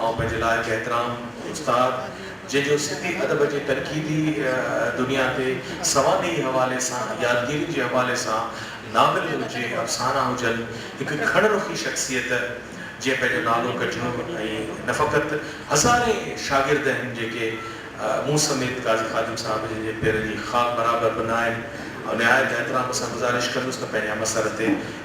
آئون پنهنجي لاء هڪ احترام استاد جنهن جو سنڌي ادب جي تنقيدي دنيا تي سوانحي حوالي سان، يادگيرين جي حوالي سان، ناول هجي، افسانا هجن، هڪ کڻ رخي شخصيت جنهن پنهنجو نالو ڪڍيو ۽ نه فقط هزارين شاگرد آهن جيڪي مون سميت قاضي خادم صاحب جن جي پيرن جي خاڪ برابر به نه آهن آئون نهايت احترام سان گذارش ڪندس ته پنهنجي همعصر تي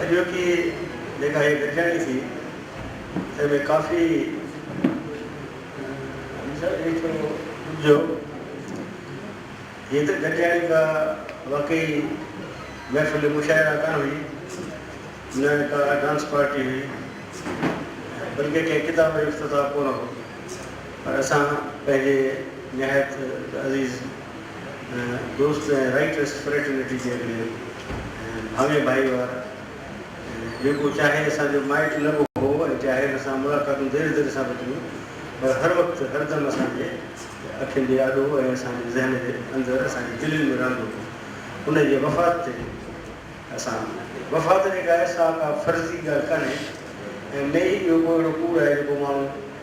اڄوڪي جيڪا هيء لکياڻي ٿي، تنهن ۾ ڪافي اپجو. هيء لکياڻي ڪا واقعي محفل مشاعره ڪانه هئي، نه ڪا ڊانس پارٽي هئي، بلڪه ڪنهن ڪتاب جو افتتاح ڪونه هو، پر اسان پنهنجي نهايت عزيز. دوست ۽ رائٽرس فريٽرنٽي جي اڳرين ۽ ڀاڱي ڀائيوار جيڪو چاهي اسان جو مائٽ نه به هو ۽ چاهي هن سان ملاقاتون ڌيري ڌيري سان به ٿيون پر هر وقت هر دم اسان جي اکين جي آڏو ۽ اسان جي ذهن جي اندر اسان جي دلين ۾ رهندو هو ان جي وفات تي اسان وفات جي ڪا احساء ڪا فرضي ڳالهه ڪانهي ۽ نه ئي اهو ڪو اهڙو ڪوڙ آهي جيڪو ماڻهو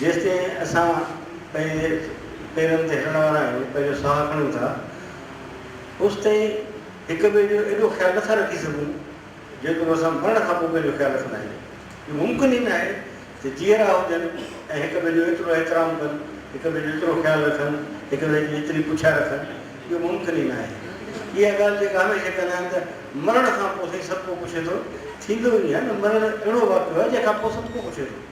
جيستائين اسان پنهنجي پيرن تي هلڻ وارا آهيون، پنهنجو ساهه کڻيون ٿا، اوستائين هڪ ٻئي جو ايڏو خيال نٿا رکي سگهون، جيترو اسان مرڻ کان پوء پنهنجو خيال رکندا آهيون. اهو ممڪن ئي ناهي ته جيئرا هجن ۽ هڪ ٻئي جو ايترو احترام ڪن، هڪ ٻئي جو ايترو خيال رکن، هڪ ٻئي جي ايتري پڇا رکن، اهو ممڪن ئي ناهي. اها ڳالهه جيڪا هميشه چوندا آهن ته مرڻ کان پوء سائين سڀ ڪو پڇي ٿو، ٿيندو ئي ناهي نه، مرڻ اهڙو واقعو آهي جنهن کان پوء سڀ ڪو پڇي ٿو.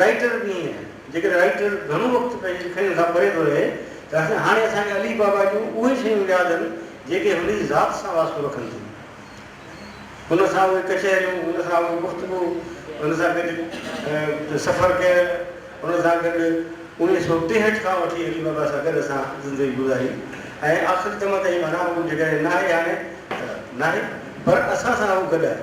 رائٽر به ائين آهن، جيڪڏهن رائٽر گهڻو وقت پنهنجي لکڻين کان پري ٿو رهي ته اسان هاڻي اسان کي علي بابا جون اهي شيون ياد آهن جيڪي هن جي ذات سان واسطو رکن ٿيون. هن سان اهي ڪچهريون، هن سان اهي گفتگو، هن سان گڏ سفر ڪيل، هن سان گڏ اوڻيهه سؤ ٽيهٺ کان وٺي علي بابا سان گڏ اسان زندگي گذاري ۽ آخري دم تائين معنيٰ هو جيڪڏهن ناهي هاڻي ته ناهي پر اسان سان هو گڏ آهي.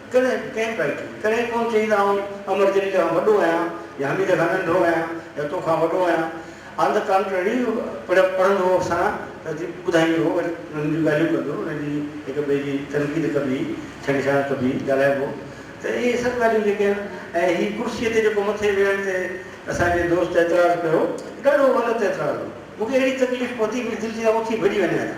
ڪڏهن به ڪنهن به حالت ۾ ڪڏهن ڪونه چئيندا آهن امر جليل کان وڏو آهيان يا حميد کان ننڍو آهيان يا تو کان وڏو آهيان آن د ڪانٽرري پڙهندو هو اسان ته جي ٻڌائيندو هو وري انهن جون ڳالهيون ڪندو هو انهن جي هڪ ٻئي جي تنقيد ڪبي هئي ڇنڊڇاڻ ڪبي هئي ڳالهائبو ته اهي سڀ ڳالهيون جيڪي آهن ۽ هي ڪرسي تي جيڪو مٿي ويهڻ تي اسان جي دوست اعتراض ڪيو ڏاڍو غلط اعتراض هو مون کي اهڙي تڪليف پهتي منهنجي دل چيو آء اٿي ڀڄي وڃان ٿا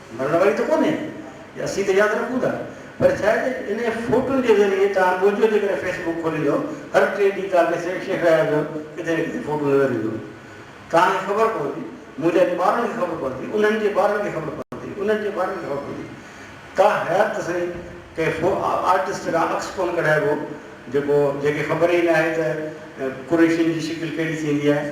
مرڻ واري ته ڪونهي يا اسين ته ياد رکون ٿا پر ڇا آهي ته انهي فوٽن جي ذريعي توهان ڳوجهو جي ڪري فيس بڪ کوليندو هر ٽي ڏينهن توهان کي شيخ شيخ اياز جو ڪٿي نه ڪٿي فوٽو نظر ايندو توهان کي خبر پوندي منهنجا جي ٻارن کي خبر پوندي انهن جي ٻارن کي خبر پوندي انهن جي ٻارن کي خبر پوندي تا حيات ته سائين ڪنهن فو آرٽسٽ کان عڪس ڪونه ڪڍائبو جيڪو جنهن کي خبر ئي ناهي ته قريشين جي شڪل ڪهڙي ٿيندي آهي.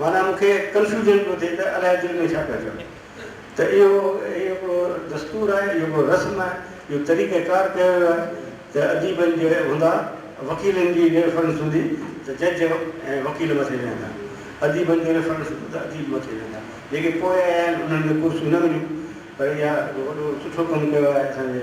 معنيٰ مون کي ڪنفيوزن پيو ٿئي ته الائي دل ۾ ڇا پيا چون ته اهو هڪڙو دستور آهي، اهو هڪڙو رسم آهي، اهو طريقه ڪار ڪيو ويو آهي ته اديبن جي هوندا، وڪيلن جي ريفرنس هوندي ته جج ۽ وڪيل مٿي ويهندا، اديبن جي ريفرنس هوندي ته اديب مٿي ويهندا، جيڪي پوء آيا آهن انهن کي ڪرسيون نه مليون پر اها وڏو سٺو ڪم ڪيو آهي اسان جي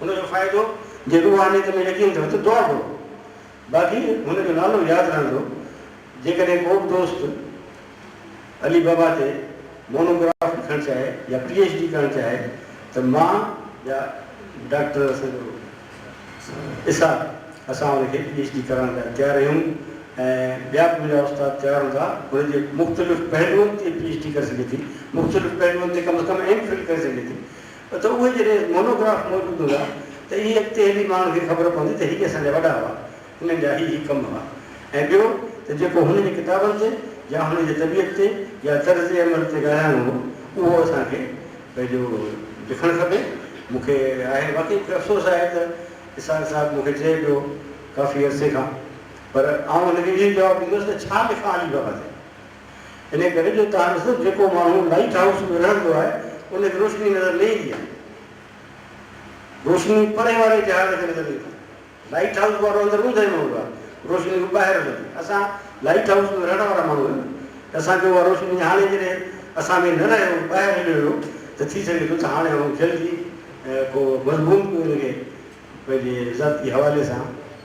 ان جو فائدو جي روحانيت ۾ يقين اٿو ته دعا گهرو. باقي هن جو نالو ياد رهندو. جيڪڏهن ڪو به دوست علي بابا تي مونو گراف لکڻ چاهي يا پي ايڇ ڊي ڪرڻ چاهي ته مان يا ڊاڪٽر اسان جو اسحاق اسان ان کي پي ايڇ ڊي ڪرائڻ لاء تيار آهيون ۽ ٻيا به منهنجا استاد تيار هوندا. هن جي مختلف پهلوئن تي پي ايڇ ڊي ڪري سگهي ٿي. مختلف پهلوئن تي ڪم از ڪم ايم فل ڪري سگهي ٿي. ته اهي جڏهن مونوگراف موجود هوندا ته اهي اڳتي هلي ماڻهن کي خبر پوندي ته هي اسان جا وڏا هئا، هنن جا هي هي ڪم هئا ۽ ٻيو ته جيڪو هن جي ڪتابن تي يا هن جي طبيعت تي يا طرز عمل تي ڳالهائڻو هو اهو اسان کي پنهنجو لکڻ کپي. مون کي آهي واقعي مون کي افسوس آهي ته اسحاق صاحب مون کي چئي پيو ڪافي عرصي کان پر آئون هن کي اهو جواب ڏيندو هوس ته ڇا لکان علي بابا تي ان ڪري جو تارو صرف جيڪو ماڻهو لائيٽ هائوس ۾ رهندو آهي ان کي روشني نظر نه ايندي آهي. روشني پري واري جهاز کي نظر ايندي آهي. لائيٽ هائوس وارو اندر اوندهه ۾ هوندو آهي. روشني هو ٻاهر هلندي آهي. اسان لائيٽ هائوس ۾ رهڻ وارا ماڻهو آهيون ته اسان کي اها روشني هاڻي جڏهن اسان ۾ نه رهيو ٻاهر هليو ويو ته ٿي سگهي ٿو ته هاڻي آئون جلد ئي ڪو مضمون به ان کي پنهنجي ذاتي حوالي سان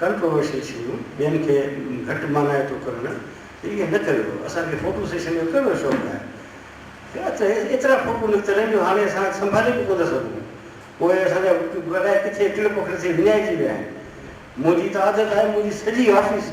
ڪنٽروورشل شيون ٻين کي گهٽ مانائي ٿو ڪرڻ تي ايئن نه ڪريو اسان کي فوٽو سيشن جو ڪهڙو شوق آهي ۽ ات ايترا فوٽو نڪتل آهن جو هاڻي اسان سنڀالي به ڪو نه سگهون پوء اسان جا الائي ڪٿي ٽڙ پکڙ ٿي وڃائجي ويا آهن منهنجي ته عادت آهي منهنجي سڄي آفيس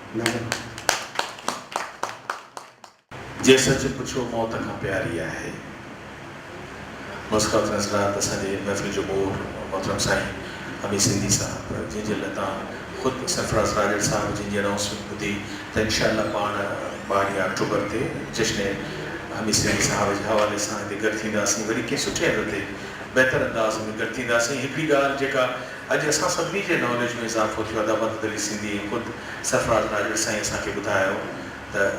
جي سچ پڇو موت کان پياري آهي. مسڪات نظرات اسان جي محفل جو مور محترم سائين حميد سنڌي صاحب جنهن جي لتان خود سرفراز راڄڙ صاحب جنهن جي انائونسمينٽ ٻڌي ته انشاء الله پاڻ ٻارهين آڪٽوبر تي جشن حميد سنڌي صاحب جي حوالي سان هتي گڏ ٿينداسين وري ڪنهن سٺي هنڌ تي بهتر انداز ۾ گڏ ٿينداسين هڪڙي ڳالهه جيڪا اڄ اسان سڀني جي ناليج ۾ اضافو ٿيو ادا مدد علي سنڌي ۽ خود سرفراز ناجوڙ سائين اسان کي ٻڌايو ته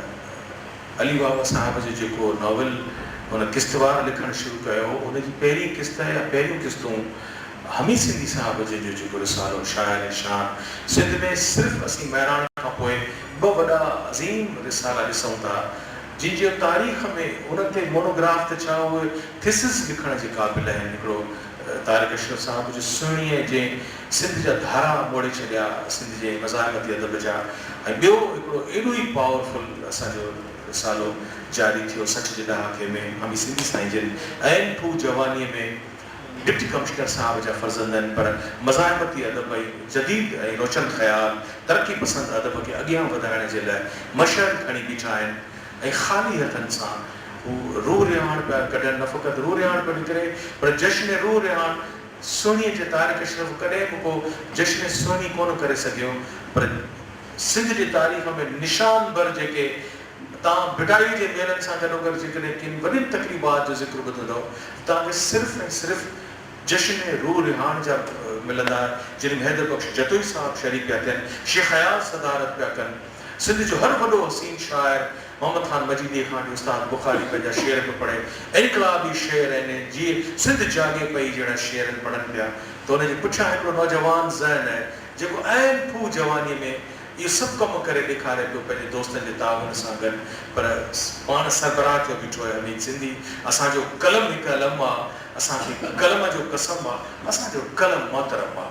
علي بابا صاحب جو جيڪو ناول هن قسطوار لکڻ شروع ڪيو هو ان جي پهرين قسط يا پهريون قسطون حميد سنڌي صاحب جن جو جيڪو رسالو شاعر شان سنڌ ۾ صرف اسين مهراڻ کان پوء ٻه وڏا عظيم رسالا ڏسون ٿا جن جو تاريخ ۾ انهن تي مونوگراف ته ڇا اهي ٿيسز لکڻ جي قابل آهن هڪڙو طارق اشرف صاحب جي سهڻيء جنهن سنڌ جا ڌارا موڙي ڇڏيا، سنڌ جي مزاحمتي ادب جا ۽ ٻيو هڪڙو ايڏو ئي پاور فل اسان جو رسالو جاري ٿيو سٺ جي ڏهاڪي ۾ هامي سنڌي سائين جن عين ڦوهه جوانيء ۾ ڊپٽي ڪمشنر صاحب جا فرزند آهن پر مزاحمتي ادب ۽ جديد ۽ روشن خيال ترقي پسند ادب کي اڳيان وڌائڻ جي لاء مشعل کڻي بيٺا آهن ۽ خالي هٿن سان هو روح رهاڻ پيا ڪڍن، نه فقط روح رهاڻ پيو نڪري پر جشن روح رهاڻ سهڻي جي طارق اشرف ڪڏهن به ڪو جشن سهڻي ڪونه ڪري سگهيو پر سنڌ جي تاريخ ۾ نشان بر جيڪي توهان ڀٽائي جي ميلن سان گڏوگڏ جيڪڏهن ڪن وڏين تقريبات جو ذڪر ٻڌندؤ ته توهان کي صرف ۽ صرف جشن روح رهاڻ جا ملندا جن ۾ حيدر بخش جتوئي صاحب شريڪ پيا ٿين، شيخ اياز صدارت پيا ڪن. سنڌ جو هر وڏو حسين شاعر محمد خان مجيديء کان وٺي استاد بخاري پنهنجا شعر پيو پڙهي. انقلابي شعر يعني جيئي سنڌ جاڳي پئي جهڙا شعرن پڙهن پيا ته ان جي پٺيان هڪڙو نوجوان ذهن آهي جيڪو عين پوء جوانيء ۾ اهو سڀ ڪم ڪري ڏيکاري پيو پنهنجي دوستن جي تعاون سان گڏ پر پاڻ سربراهه ٿيو بيٺو آهي حميد سنڌي اسان جو قلم هڪ علم آ اسان کي قلم جو قسم آ اسان جو قلم محترم آ.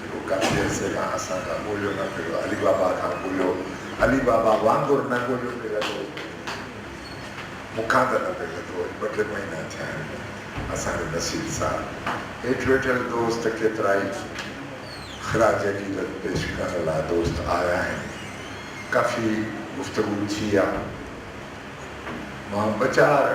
جيڪو ڪافي عرصي کان اسان کان ڳوليو نه پيو ويو، علي بابا کان ڳوليو، علي بابا وانگر نه ڳوليو پيو ويو، مون کان ته نه پيو لڌو، اڄ ٻه ٽي مهينا ٿيا آهن، اسان جو نصير صاحب هيٺ ويٺل دوست ڪيترائي خراج عقيدت پيش ڪرڻ لاء دوست آيا آهن، ڪافي گفتگو ٿي آ، مان ٻه چار.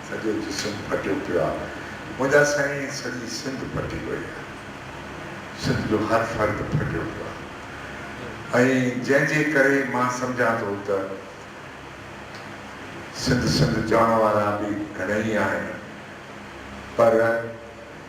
سڄو جسم ڦٽيو پيو آ. منهنجا سائين سڄي سنڌ ڦٽي وئي آ. سنڌ جو هر فرد ڦٽيو پيو آ ۽ جنهن جي ڪري مان سمجهان ٿو ته سنڌ سنڌ چوڻ وارا به گهڻئي آهن پر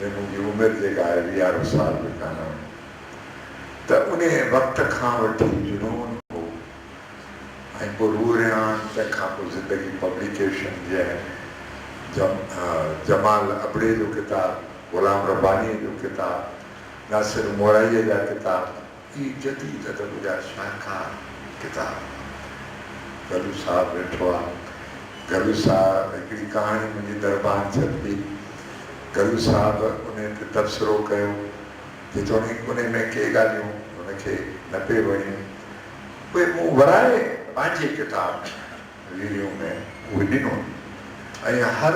۽ منهنجي عمر جيڪا آهي ويهارو سال به ڪانه هئي ته انهيء وقت کان وٺي جنون هو ۽ پوء روح ريحان تنهن کان پوء زندگي پبليڪيشن جي آهن جمال ابڙي جو ڪتاب، غلام ربانيء جو ڪتاب، ناصر مورائيء جا ڪتاب، اهي جديد ادب جا شاهڪار ڪتاب. گلو صاحب ويٺو آ. گلو صاحب هڪڙي ڪهاڻي منهنجي دربان ڇپي. گلو صاحب انهي تي تبصرو ڪيو. جيتوڻيڪ انهي ۾ ڪي ڳالهيون هن کي نه پئي وڻيون. اهي مون ورائي پنهنجي ڪتاب ۾ ريريون ۾ اهي ڏنون ۽ هر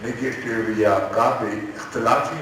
نيگيٽو يا ڪا به اختلافي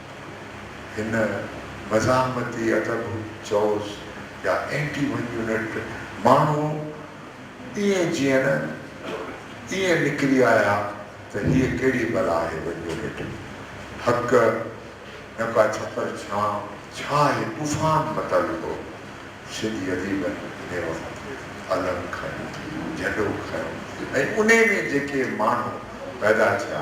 هن مزاحمتي ادب چئوس يا اينٽي ون يونٽ ماڻهو ائين جيئن ائين نڪري آيا ته هيء ڪهڙي بلا آهي ون يونٽ حق نه ڪا ڇپر ڇان ڇا آهي طوفان متل هو سنڌي اديبن انهي وقت علم کنيو جهنڊو کنيو ۽ انهي ۾ جيڪي ماڻهو پيدا ٿيا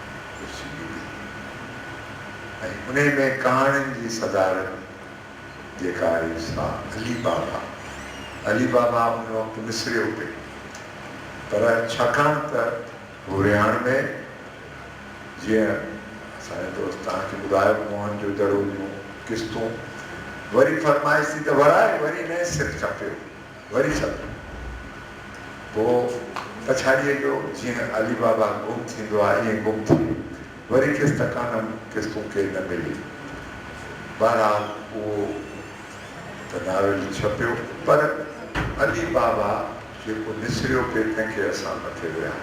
ڏسجي ٿي ۽ انهي ۾ ڪهاڻين جي صدارت جيڪا آهي سا علي بابا علي بابا ان وقت مصريو پئي پر ڇاڪاڻ ته هو رهاڻ ۾ جيئن اسان جي دوست توهان کي ٻڌايو موهن جو دڙو جون قسطون وري فرمائش ٿي ته ورائي وري نئين سر ڇپيو وري سڀ ڪو پڇاڙيء جو جيئن علي بابا گم ٿيندو آ ائين گم ٿئي وري کيس تڪانم کيس ڪو ڪير نه ملي. بهرحال اهو ته ناول ڇپيو پر علي بابا جيڪو نسريو پئي تنهن کي اسان مٿي ويها.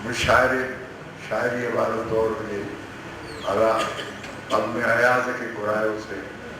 مشاعري شاعريء وارو دور هجي الا اڳ ۾ اياز کي گهرايو سي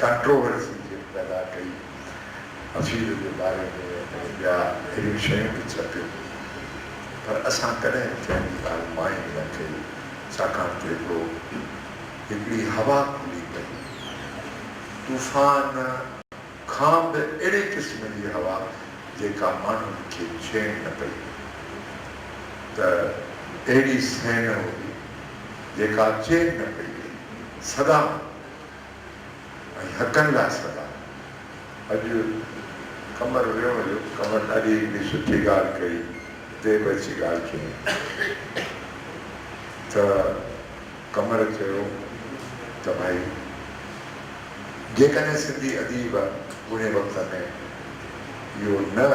ڪانٽروورسي جيئن پيدا ڪئي، حفيظ جي باري ۾ ۽ ٻيا اهڙيون شيون به ڇپيون، پر اسان ڪڏهن به ڪنهن جي ڳالهه مائين نه ڪئي، ڇاڪاڻ ته هڪڙو هڪڙي هوا کلي پئي، طوفان کان به اهڙي قسم جي هوا جيڪا ماڻهن کي ڇيڻ نه پئي ته اهڙي سهن هئي جيڪا چين نه پئي ڏئي، سدا ۽ حقن لاء سدا. اڄ قمر ويو هليو. قمر ڏاڍي هڪڙي سٺي ڳالهه ڪئي. هتي به اچي ڳالهه ڪيائين ته قمر چيو ته ڀائي جيڪڏهن سنڌي اديب ان وقت ۾ اهو نه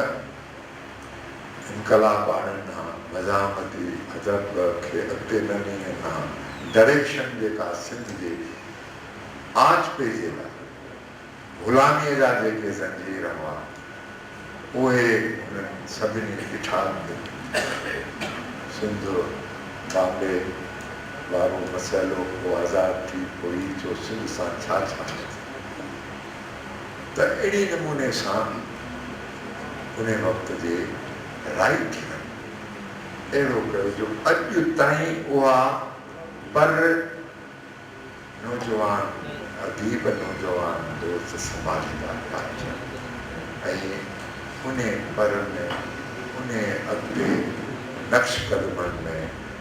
انقلاب آڻڻ کان مزاحمتي ادب کي اڳتي نه نيڻ کان ڊريڪشن جيڪا سنڌ جي آچ پيچي لاء غلاميء جا جيڪي زنجير هئا، اهي هنن سڀني اٺاڳ ڏنا. سنڌ بامبي وارو مسئلو ڪو آزاد ٿي پوي جو سنڌ سان ڇا ڇا ٿيندو؟ ته اهڙي نموني سان به انهي وقت جي رائيٽرن اهڙو ڪيو جو اڄ تائين اها پر نوجوان اديب نوجوان دوست سنڀاليندا پيا اچن ۽ انهي پر ۾ انهي اڳتي نقش قدمن ۾.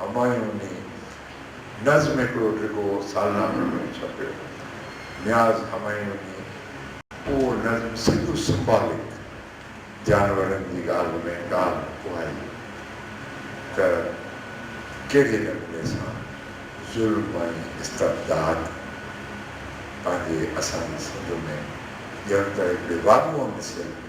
همايوني نظم هڪڙو ڊگهو سالنامي پڻ ڇپيو. نياز همايوني اهو نظم سڌو سمبالڪ جانورن جي ڳالهه ۾ ڳالهه اهائي ته ڪهڙي نموني سان ظلم ۽ استبداد پنهنجي اسان جي سنڌ ۾ ڄڻ ته هڪڙي واڳون ڏسيل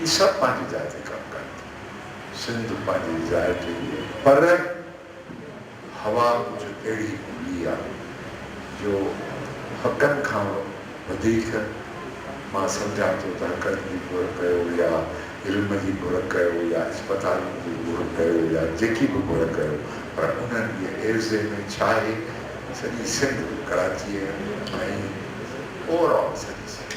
هي سڀ پنهنجي جاء تي ڪم ڪن ٿا. سنڌ پنهنجي جاء تي هئي پر هوا ڪجهه اهڙي هوندي آ جو حقن کان وڌيڪ مان سمجهان ٿو ته حقن جي گهر ڪيو يا علم جي گهر ڪيو يا اسپتالن جي گهر ڪيو يا جيڪي به گهر ڪيو پر انهن جي عيوضي ۾ ڇا آهي سڄي سنڌ ڪراچيء ۽ اوور آل سڄي سنڌ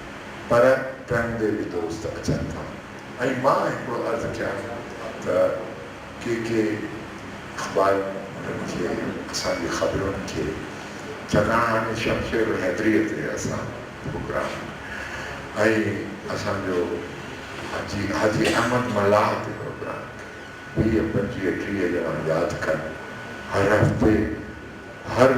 پر ٽرين تي به دوست اچن ٿا ۽ مان هڪڙو عرض ڪيان ته ڪي ڪي اخبار انهن کي اسان جي خبرن کي ڇاڪاڻ هاڻي شمشير حيدريء تي اسان پروگرام ۽ اسان جو حاجي حاجي احمد ملاح تي پروگرام ويهه پنجويهه ٽيهه ڄڻا ياد ڪن هر هفتي هر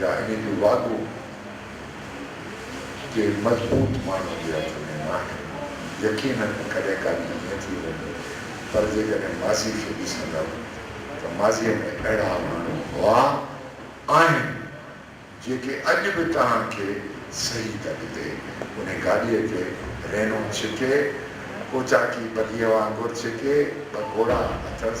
يا انهي جو وعدو ڪي مضبوط ماڻهن جي هٿ ۾ ناهي. يقيناً ڪڏهن ڪا ڏينهن ائين ٿي ويندو پر جيڪڏهن ماضي کي ڏسندؤ ته ماضيء ۾ اهڙا ماڻهو هئا، آهن، جيڪي اڄ به توهان کي صحيح تڪ تي انهي گاڏيء تي رينو ڇڪي، ڪوچاڪي بگيء وانگر ڇڪي، ٻه گهوڙا اٿس،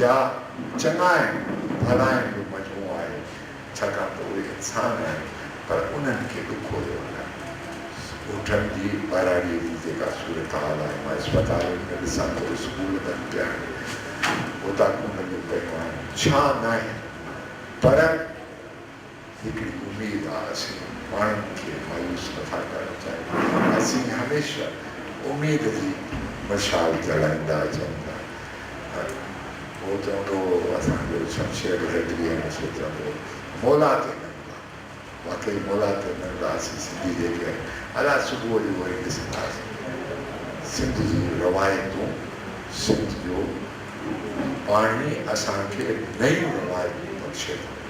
يا چڱائين ڀلائين جو مجموعو آهي، ڇاڪاڻ ته اهي انسان آهن پر انهن کي به کوڙيو نه. اٺن جي ٻهراڙيء جي جيڪا صورتحال آهي مان اسپتالن ۾ ڏسان ٿو اسڪول بند پيا آهن، اوطاقون لڳيون پيون آهن، ڇانء ناهي پر. هڪڙي اميد آ اسين ماڻهن کي مايوس نٿا ڪرڻ چاهيون اسين هميشه اميد جي مشال جلائيندا اچون ٿا هو چوندو هو اسان جو شمشير هيڊلي هميشه چوندو هو مولا تي ننگا واقعي مولا تي ننگا اسين سنڌي جيڪي ادا صبح جو وري ڏسنداسين سنڌ جي روايتون سنڌ جو پاڻي اسان کي نيون روايتون بخشي ٿو.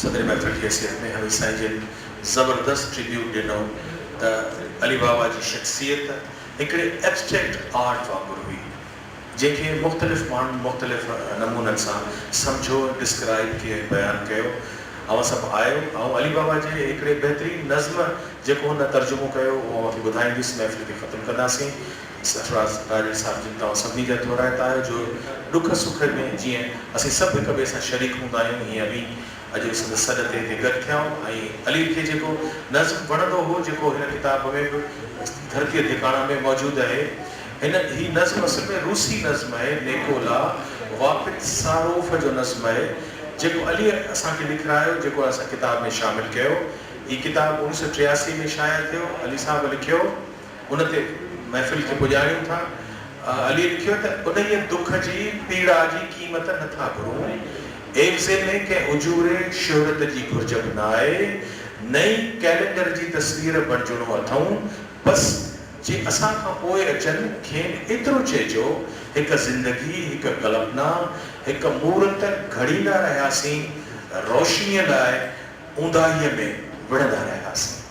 صدر محفل جي حيثيت ۾ هوي سائين جن زبردست ٽريبيوٽ ڏنو ته علي بابا جي شخصيت هڪڙي ائبسٽريڪٽ آرٽ وانگر هئي جنهن کي مختلف ماڻهن مختلف نمونن سان سمجهو، ڊسڪرائيب ڪيو ۽ بيان ڪيو. اوهان سڀ آيو. آئون علي بابا جي هڪڙي بهترين نظم جيڪو هن ترجمو ڪيو اهو اوهان کي ٻڌائيندس محفل کي ختم ڪنداسين. سرفراز ڏاهري صاحب جن توهان سڀني جا ٿورائتا آهيو جو ڏک سک ۾ جيئن اسين سڀ هڪ ٻئي سان شريڪ هوندا آهيون هيئن اوهين اڄ سندس سڏ تي هتي گڏ ٿيا آهيون ۽ علي کي جيڪو نظم وڻندو هو جيڪو هن ڪتاب ۾ به ڌرتيء ڌڪاڻا ۾ موجود آهي هن هي نظم اصل ۾ روسي نظم آهي نيڪولا واپتساروف جو نظم آهي جيڪو عليء اسان کي لکرايو جيڪو اسان ڪتاب ۾ شامل ڪيو هي ڪتاب اوڻيھ سؤ ٽياسي ۾ شايع ٿيو علي صاحب لکيو. ان تي محفل کي پڄاڻيون ٿا. عليء لکيو ته انهيء دک جي پيڙا جي قيمت نه ٿا گهرون. ايڪزي ۾ ڪنهن اجوري شهرت جي گهرج به نه آهي. نه ئي ڪئلينڊر جي تصوير بڻجڻو اٿئون. بس جي اسان کان پوء اچن، کين ايترو چئجو، هڪ زندگي، هڪ ڪلپنا، هڪ مورت گهڙيندا رهياسين، روشنيء لاء اونداهيء ۾ وڙهندا رهياسين.